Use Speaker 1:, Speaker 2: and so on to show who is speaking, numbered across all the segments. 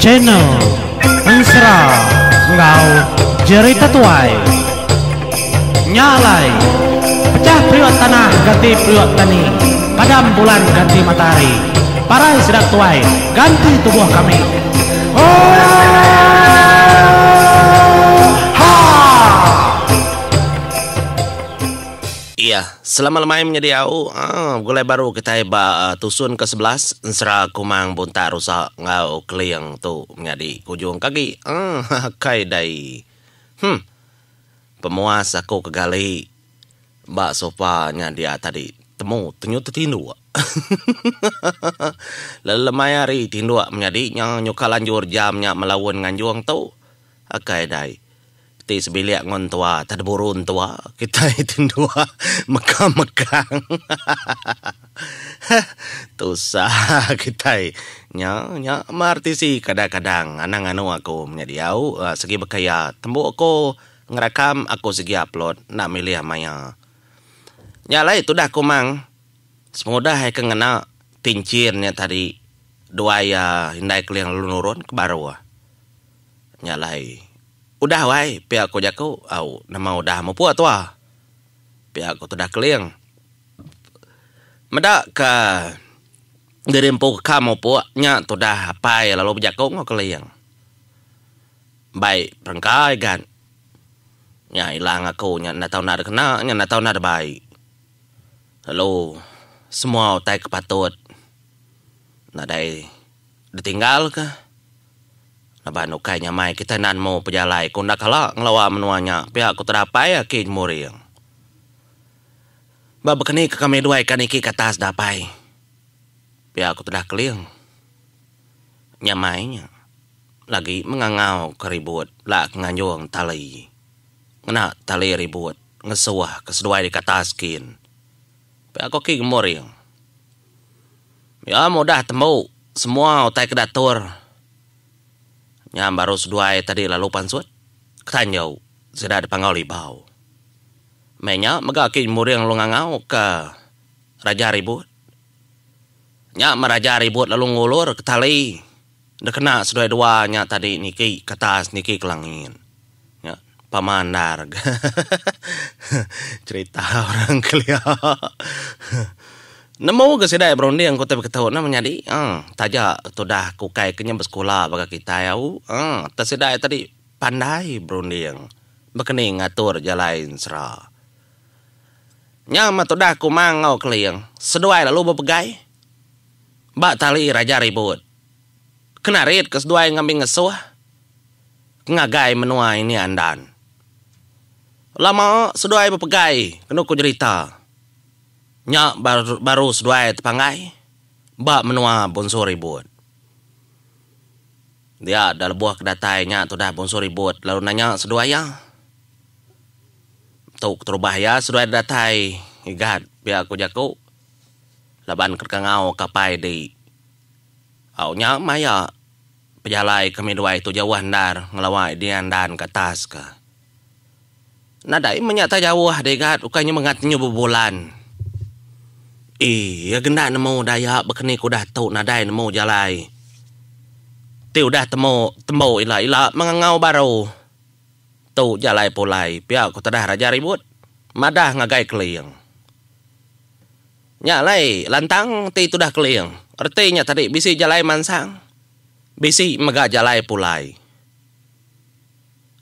Speaker 1: Channel Ensera enggau Jerry Tetuai Nya alai Pecah periuk tanah ganti periuk tani Padam bulan ganti matahari Parai sida ketuai ganti tubuh kami Oohh Haa
Speaker 2: Iya, selama lemai menyadi au, begulai baru kitai ba tusun ke sebelas ensera Kumang Buntak Rusa enggau Keling tu menyadi ke ujung ke agi. Kai dai. Huh. Pemuas aku ke gali ba sofa nya dia tadi. Temu tenyu tetinduk. Lalu lemai hari tinduk menyadi nya nyukal anjur jam nya melaun nganjung tu. Kai dai. Ti sebilik ngun tua tah diburu entua kitai ti ndua meka megang. Heh tusah kitai nya nya meh RTC kadang kadang anang anu aku menya diau segi baka iya tembu aku ngerakam aku segi upload enda milih maya. Nya alai tudah kumang semudah ai ke ngena pinchin nya tadi duai iya indai keling lalu nurun ke baruh. Nya alai. Udah wai, pia ko jaku. Au, nama udah mupuk tua. Pia ko tudah keling. Meda ka diri empu ka mupuk nya tudah apai lalu bejaku enggau keling. Bai perengkai gat. Nya ila ngaku nya enda tau nadai kena, nya enda tau nadai bai. Lalu semua utai ke patut nadai. ditinggalka laban ukai nyamai kitai enda nemu pejalai ku enda kala ngelawa menua nya pia ku tedapai aki Jemuring. Ba bekeni ke kami duai ka niki ke atas dapai pia ku tudah Keling nyamai nya lagi mengangau ka ribut la ke nganjung tali ngena tali ribut ngesuh ke seduai deka atas kin pia ku aki Gemuring. Iya mudah tembu semua utai ke datur nya baru seduai tadi lalu pansut ke tanju sida dipanggau libau. Meh nya mega kin muring lalu ngangau ke Raja Ribut. Nya meh Raja Ribut lalu ngulur ke tali. Enda kena seduai dua nya tadi niki ke atas niki ke langit. Nya pama endar ga cerita orang kelia. Nemu ga sida iya berunding ku ti beketu enda menyadi uhh taja tudah ke ukai ke nya besekula baka kitai au uhh tang sida iya tadi pandai berunding bekeni ngatur jalai ensera. Nya mah tudah kuma enggau keling seduai lalu bepegai. Ba tali raja ribut. Kena rit ke seduai ngambi ngesuh ngagai menua ini andan. Lama seduai bepegai kenu ku jerita. Nya baru seduai tepanggai ba menua Bonsu Ribut. Dia da lebuh ke datai nya tudah Bonsu Ribut lalu nanya seduai iya. Tu keterubah iya seduai datai igat pia ku jaku. laban kedkangau kapai di au nya maya pejalai kami duai tu jauh endar ngelawa dia endan ke atas ka. Nadai menya tak jauh digat ukai nya mega tenyu bebulan. Iya genda nemu daya bekeni ke udah tu nadai nemu jalai ti udah temu tembu ila ila mengengau baru. Tu jalai pulai pia ku tedah raja ribut madah ngagai keling. Nya alai lantang ti tudah keling. Reti nya tadi bisi jalai mansang, bisi mega jalai pulai.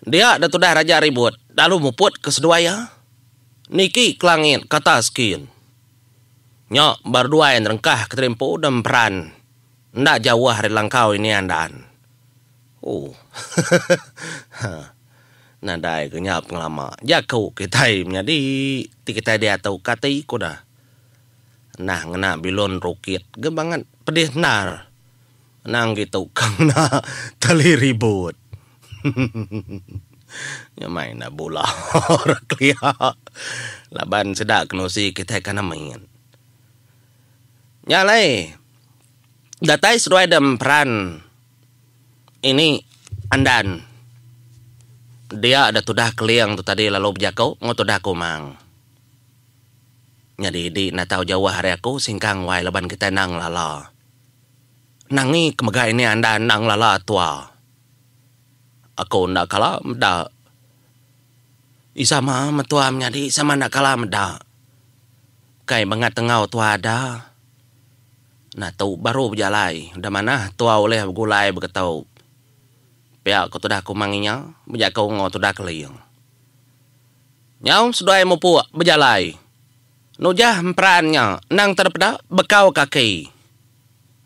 Speaker 2: Dia da tudah raja ribut lalu muput ke seduai iya, niki ke langit ke atas kin. Nya ba reduai nerengkah ke tadi empu da emperan enda jauh ari langkau inian daan. Ooh. Ha. Nadai ke nya pengelama. Jaku kitai menyadi ti kitai diatu ka ati ku da. Nah ngena bilun rukit ge banget pedih endar. Anang gitu ka ngena tali ribut. Hehehe. Nya mai enda bula ra kelia. Laban sida kenusi kitai kana mit. Nya alai datai seduai da emperan. Ini Andan. Dia da tudah Keling tu tadi lalu bejaku enggau tudah Kumang. Nyadi di natau jauh ari aku singkang wai laban kitai endang ngelala. Nangi ke mega ini Andan endang ngelala tua. Aku enda kala meda ih sama mentua menyadi sama enda kala meda. Kai bangat enggau tua ada. Nah tu baru bejalai. Udah manah tua ulih begulai begetu. Pia ko tudah kumang inya bejaku engo tudah keling. Nyau seduai mupuk bejalai. Nujah emperan nya endang tera peda bekau kaki.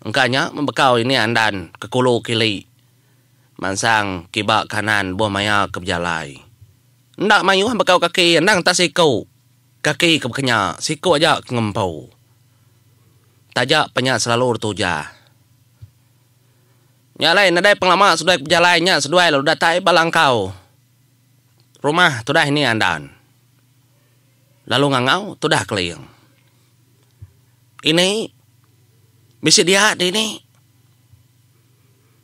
Speaker 2: Engka nya membekau ini andan ke kulu kili mansang kiba kanan buh maya ke bejalai. Enda mayuh bekau kaki endang tak siku. Kaki ke baka nya, siku aja ke ngempu. Taja pa nya selalu ditujah. Nya alai nadai pengelama seduai ke bejalai nya seduai lalu datai ba langkau rumah tudah ini andan lalu ngangau tudah keling. Ini bisi dia dini.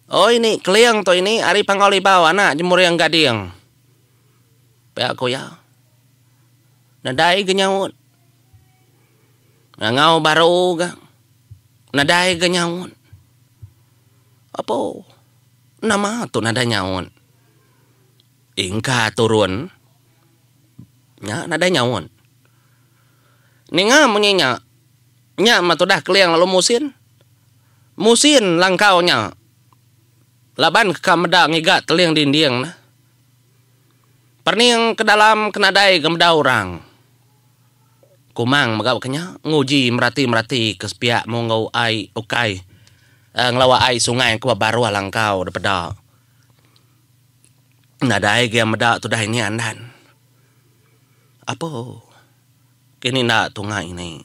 Speaker 2: Oi ni keling tu ini ari Panggau Libau anak Jemuring Gading. pia ku iya. Nadai ga nyaut. Ngangau baru ga nadai ga nyaut. Apo nama tu nadai nyaut? Ingka turun nya nadai nyaut. Ninga munyi nya, nya meh tudah keling lalu musin. Musin langkau nya laban ka meda ngiga teling dinding ne. Perning ke dalam ke nadai ke meda orang. Kumang mega baka nya, nguji merati-merati ke sepiak mung enggau ai ukai ngelawa ai sungai ke ba baruh langkau dipeda. Nadai ge meda tudah ini andan. Apo kini enda tunga ini.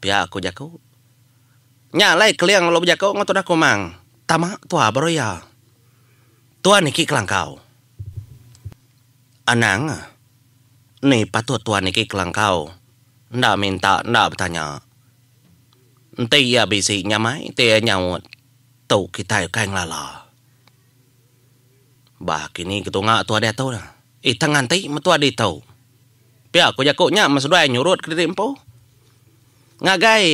Speaker 2: Pia ku jaku. Nya alai Keling lalu bejako enggau tudah Kumang, Tama tua baru iya. Tuan iki kelangkau. Anang, Ni patut tuan iki kelangkau. Enda minta, enda betanya. Enti iya bisi nyamai ti iya nyaut, tu kitai ukai ngelala. Bah kini ketunga tua diatu dah. Itang nganti metua ditu. Pia ku jaku nya men seduai nyurut kediri empu. Ngagai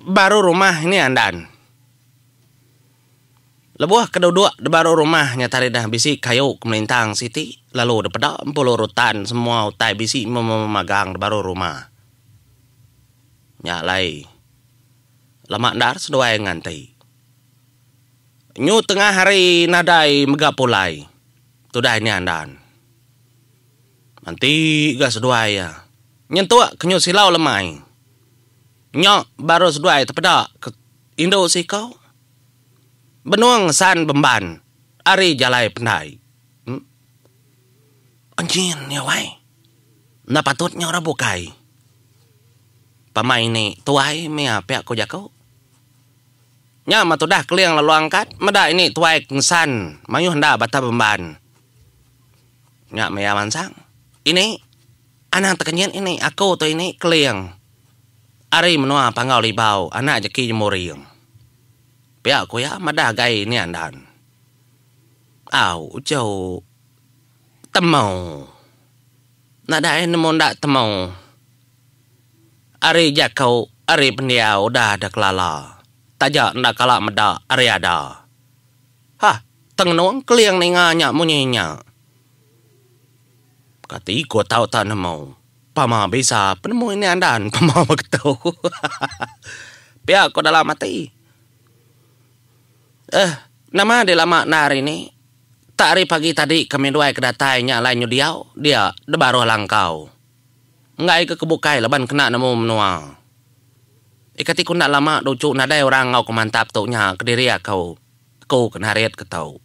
Speaker 2: baru rumah ini andan. Lebuh ke duduk dibaru rumah nya tadi dah bisi kayu ke melintang siti lalu dipeda Empulu Rutan semua utai bisi memagang dibaru rumah nya alai lama endar seduai nganti nyu tengah hari nadai mega pulai tudah ini andan manti ga seduai iya nyentuk ke nyu silau lemai nya baru seduai tepeda ke Indu Sikau, Benung San Bemban ari Jalai Pendai. Em. Enjin nya wai. Enda patut nya orang bukai. Pama ini tuai mia pia ku jaku. Nya mah tudah Keling lalu angkat meda ini tuai kensan mayuh enda Batang Bemban. Nya maya mansang. Ini. Anang tekenyit ini aku tu ini Keling ari menua Panggau Libau anak jeki Jemuring. Pia ku iya madah gai nia andan. Au ujau temau enda dai nemu enda temau ari jako ari pendiau udah da kelala taja enda kala meda ari ada. Hah tengenung Keling ninga nya munyi nya. Kati ko tau ta nemu. Pama bisa penemu ini andan pama ba ketu. Pia ko dalam ati. Eh nama di lama enda hari ni. Tak hari pagi tadi ke Midway ke datai nya alai nyu diau dia de baruh langkau. Enggai ke ke bukai laban kena nemu menua. Eh kati ko enda lama de uchu nadai orang enggau ko mantap tu nya kediri aku. Aku ke narit ketu.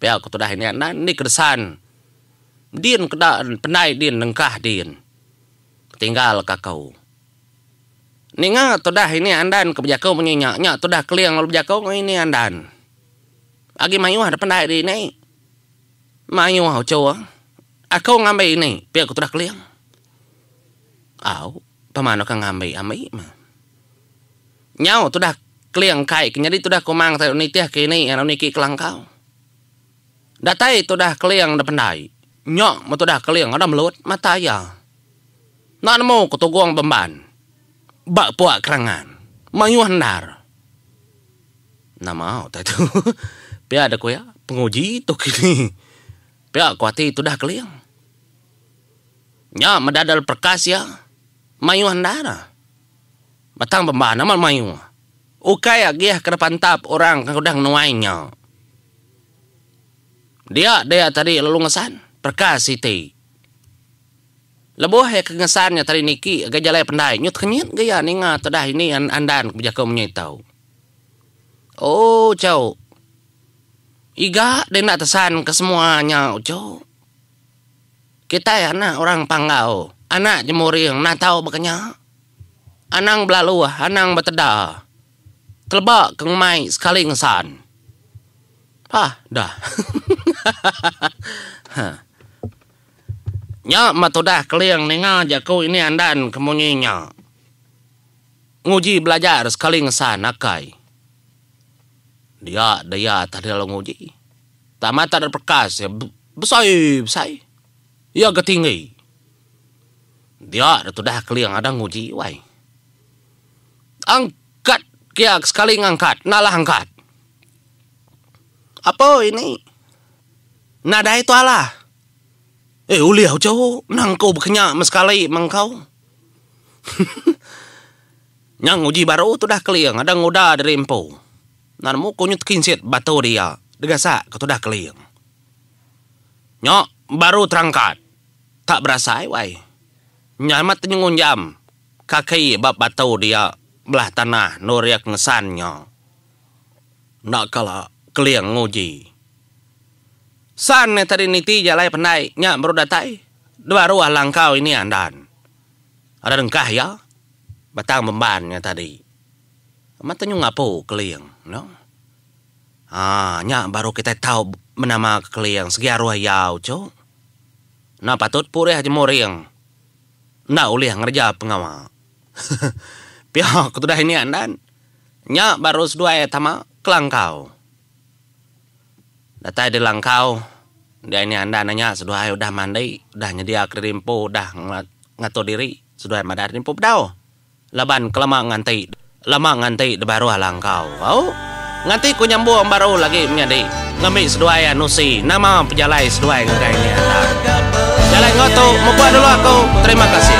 Speaker 2: Pia ko tudah ini andan ni ke desan. Din keda pendai din nengkah din ketinggal ka ko. Ninga tudah ini andan ke bejaku munyi nya nya tudah keling lalu bejaku ko ini andan. Agi mayuh da pendai di ini. Mayuh uchur aku ngambi ini pia ko tudah keling. Au pema anu ke ngambi ambi meh. Nyau tudah keling kai ke nyadi tudah kumang nitih ke ini ngan niki kelangkau. Datai tudah Keling da pendai. Nya meh tudah Keling ada melut mata iya. Enda nemu ke Tugong Bemban ba Puak Kerangan. Mayuh endar. Nama utai tu. Pia dek ku iya, penguji tu kini. Pia ku ati tudah Keling. Nya meh dadal perkas iya. Mayuh endar. Batang Bemban amat mayuh. Ukai agih kena pantap orang ke udah ngenuai nya. Dia dia tadi lalu ngesan perka siti. Lebuh iya ke ngesan nya tadi niki ngagai jalai pendai, nyut kenyit ga iya ninga tudah ini andan ke bejaku menyai tau. Ooh chau. Iga deh enda tesan ke semua nya ooh chau. Kitai anak orang Panggau, anak jemuring natau bekenya. Anang belaluh, anang beteda. Keleba ke ngumai sekali ngesan. Pah dah. Nya meh tudah Keling ninga jaku ini andan ke munyi nya. Nguji belajar sekali ngesan akai. dia dia atas dia lalu nguji tama tada bekas ia besai besai ia ga tinggi dia da tudah keling ada nguji wai angkat kia sekali ngangkat nalah angkat apo ini nadai tu alah eh ulih ujok nang ko ba kenya ma sekali mengkau. Nyang uji baru tudah keling adang uda diri empu. Enda nemu ku nyut kinsit batu dia degasak ke tudah keling. Nya baru terangkat. Tak berasai wai. Nya amat tenyengunjam kaki ba batu dia belah tanah endur iya ke ngesan nya. Enda kala keling nguji. San iya tadi niti jalai pendai nya baru datai. Dua ruah langkau ini andan ari rengkah iya Batang Bemban nya tadi. Amat tanyu ngapu Keling nya. Haa nya baru kitai tau menama ke Keling segi aruh iya uchu. Enda patut purih jemuring enda ulih ngereja pengawa. Pia ketudah ini andan nya baru seduai tama kelangkau. Datai diri langkau dia ini anda nanya seduai udah mandi udah nyedia kediri empu udah ngatur diri seduai madah diri empu bedau laban kelama nganti lama nganti dibaruh langkau au nganti ku nyambung baru lagi menyadi ngambi seduai anu si nama pejalai seduai ngagai ini anda jalai enggau tu mupuk dulu aku terima kasih.